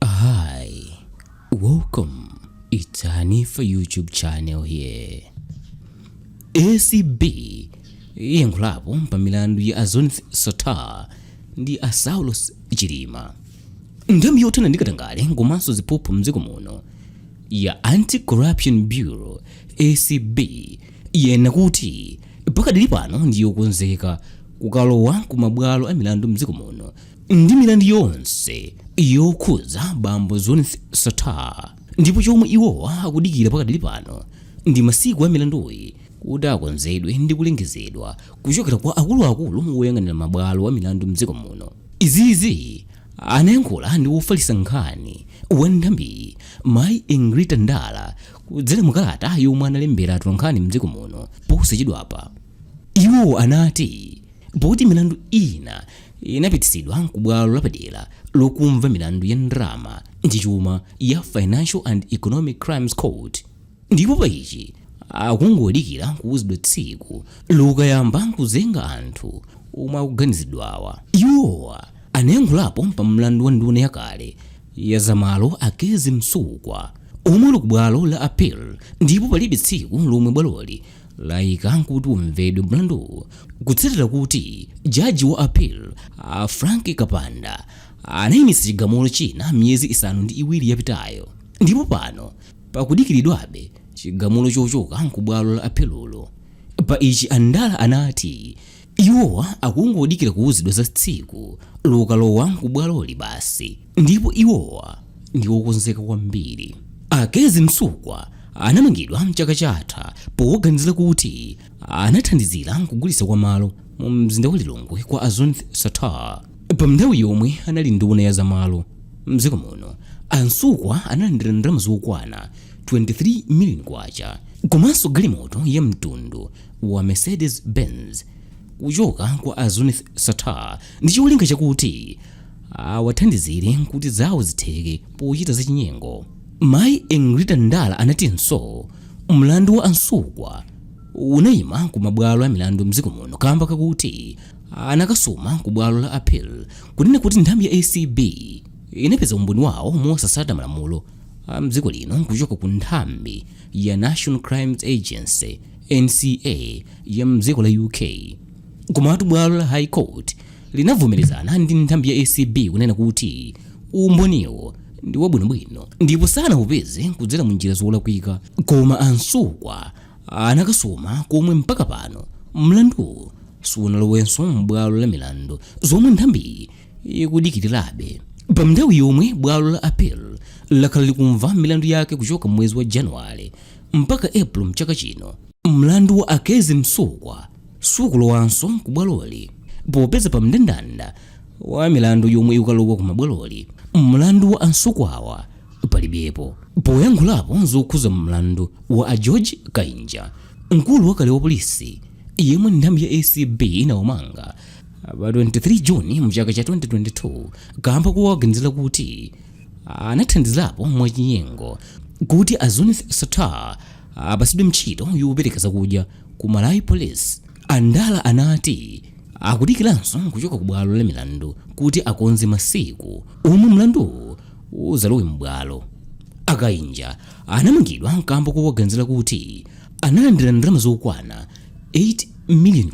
Hi, welcome. It's Hanifa YouTube channel here. ACB yayankhulapo pa milandu ya a Zuneth Sattar ndi a Saulos Chilima. Nthambi yothana ndi katangale komanso ziphuphu mdziko muno ya Anti-Corruption Bureau ACB yanena kuti pakadali pano ndiyokonzeka kukalowa ku mabwalo a milandu mdziko muno ndi milandu yonse yokhudza bambo Zuneth Sattar ndipo chomwe iwowa akudikira pakadali pano ndi masiku a milanduyi kuti akonzedwe ndi kulengezedwa kuchokera kwa akuluakulu woyang'anira mabwalo a milandu mdziko muno izizi anayankhula ndi wofalitsa nkhani wa nthambiyi mayi Engrita Ndala kudzera mu kalata yomwe analembera atolankhani mdziko muno posachedwapa iwo anati Pakuti milandu ina inapititsidwa kubwalo lapadera lokumva milandu ya ndalama ndi chuma ya Financial and Economic Crimes Court, ndipo pa ichi akungodikira kuuzidwa tsiku lokayamba kuzenga anthu omwe akuganiziridwawa. Iwowa anayankhulapo pa mlandu wa nduna yakale ya za malo a Kezzie Msukwa omwe uli kubwalo la appeal ndipo palibe tsiku lomwe bwaloli laika kuti umvedwe mlanduwu kutsatira kuti jaji wa appeal a Frank Kapanda anayimitsa chigamulo china miyezi isanu ndi iwiri yapitayo ndipo pano pakudikiridwabe chigamulo chochoka nkubwalo la apelulo pa ichi a Ndala anati Iwowa akungodikira kuwuzidwa za tsiku lokalowa ku bwaloli basi ndipo iwowa ndi okonzeka kwambiri. A Kezzie Msukwa anamangidwa mchaka chatha powaganizira kuti anathandizira kugulitsa kwa malo mu mzinda wa Lilongwe kwa a Zuneth Sattar. Pa nthawi yomwe anali nduna ya za malo mdziko muno, a Msukwa analandira ndalama zokwana K23 million komanso galimoto ya mtundu wa Mercedes Benz kuchoka kwa a Zuneth Sattar ndi cholinga chakuti awathandizire kuti zawo zitheke pochita zachinyengo. Mayi Engrita Ndala anatinso mlandu wa a Msukwa unayima ku mabwalo a milandu mdziko muno kamba kakuti anakasuma ku bwalo la appeal kunena kuti nthambi ya ACB inapeza umboni wawo mosatsata malamulo a mdziko lino kuchoka ku nthambi ya National Crimes Agency NCA ya mdziko la UK. Komatu bwalo la High Court linavomerezana ndi nthambi ya ACB kunena kuti umboniwo ndi wabwinobwino ndipo sanaupeze kudzera mu njira zolakwika koma a Msukwa anakasuma komwe mpaka pano mlanduwu sunalowenso m'bwalo la milandu zomwe nthambiyi ikudikirirabe pa nthawi yomwe bwalo la appeal lakhala likumva milandu yake kuchoka m'mwezi wa januwale mpaka April mchaka chino. Mlandu wa a Kezzie Msukwa sukulowanso ku bwaloli popeza pa mndandanda wa milandu yomwe ikukalowa ku mabwaloli mlandu wa a Msukwawa palibepo. Poyankhulapo zokhuza mlandu wa a George Kainja, mkulu wakale wa polisi yemwe nthambi ya ACB inawamanga pa 23 June mchaka cha 2022 kamba kowaganizira kuti anathandizapo mwachinyengo kuti a Zuneth Sattar apatsidwe ntchito yopereka zakudya ku Malawi Police. A Ndala anati akudikiranso kuchoka ku bwalo la milandu kuti akonze masiku omwe mlanduwu udzalowe m'bwalo. A Kainja anamangidwa kamba kowaganizira kuti analandira ndalama zokwana K8 miliyoni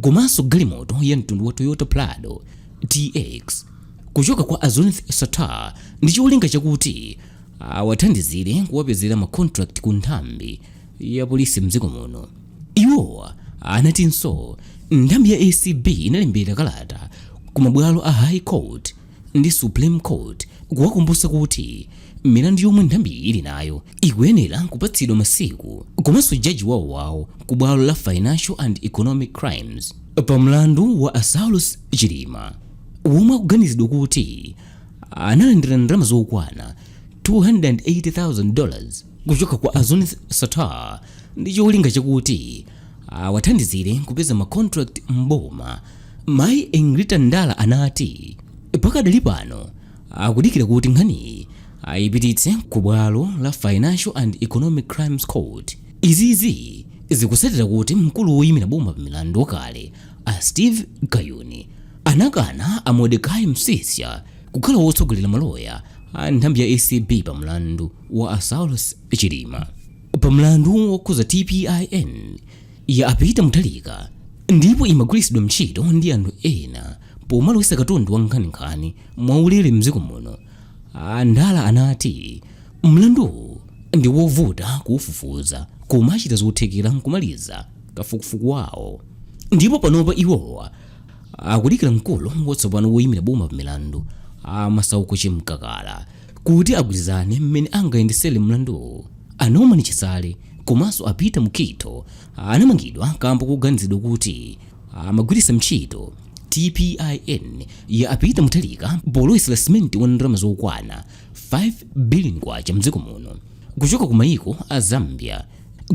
komanso galimoto ya mtundu wa Toyota Prado TX. kuchoka kwa a Zuneth Sattar ndi cholinga chakuti awathandizire kuwapezera ma contract ku nthambi ya polisi mdziko muno. Iwo anatinso nthambi ya ACB inalembera kalata ku mabwalo a High Court ndi Supreme Court kuwakumbutsa kuti milandu yomwe nthambiyi ili nayo ikuyenera kupatsidwa masiku komanso jaji wawowawo ku bwalo la Financial and Economic Crimes pa mlandu wa a Saulos Chilima. womwe akuganizidwa kuti analandira ndalama zokwana 280,000 dollars kuchoka kwa a Zuneth Sattar ndi cholinga chakuti awathandizire kupeza ma contract m'boma. Mayi Egrita Ndala anati pakadali pano akudikira kuti nkhaniyi ayipititse ku bwalo la Financial and Economic Crimes Court. Izizi zikusatira kuti mkulu woyimira boma pa milandu wakale A Steve Kayuni anakana a Modecai Msisha kukhala wotsogolera maloya a nthambi ya ACB pa mlandu wa a Saulos Chilima. Pa mlandu wokhuza TPIN ya a Peter Mutharika ndipo imagwiritsidwa ntchito ndi anthu ena pomalowetsa katundu wa nkhaninkhani mwaulere m'dziko muno, a Ndala anati mlanduwu ndi wovuta kuufufuza koma achita zothekera n'kumaliza. kafukufuku wawo ndipo panopa iwowa akudikira mkulu watsopano woyimira boma pamilandu a masauko chamkakala kuti agwirizane mmene angayendesere mlanduwu a norman chisale komanso a peter mukhito anamangidwa kamba koganizidwa kuti amagwiritsa ntchito tpin ya a peter mutharika polowetsera simenti wa ndalama zokwana 5 billion kwacha mdziko muno kuchoka ku mayiko a zambia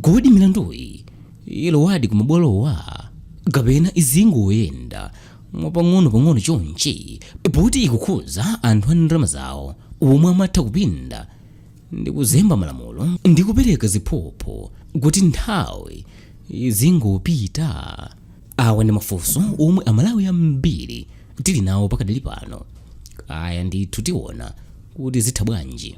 kodi milanduyi ilowadi kumabwalowa kapena izingoyenda mwapang'ono-pang'ono chonchi poti ikukhuza anthu a ndalama zawo omwe amatha kupinda ndi kuzemba malamulo ndi kupereka ziphuphu kuti nthawi izingopita awa ndi mafunso omwe amalawi ambiri tili nawo pakadali pano kaya ndithu tiona kuti zitha bwanji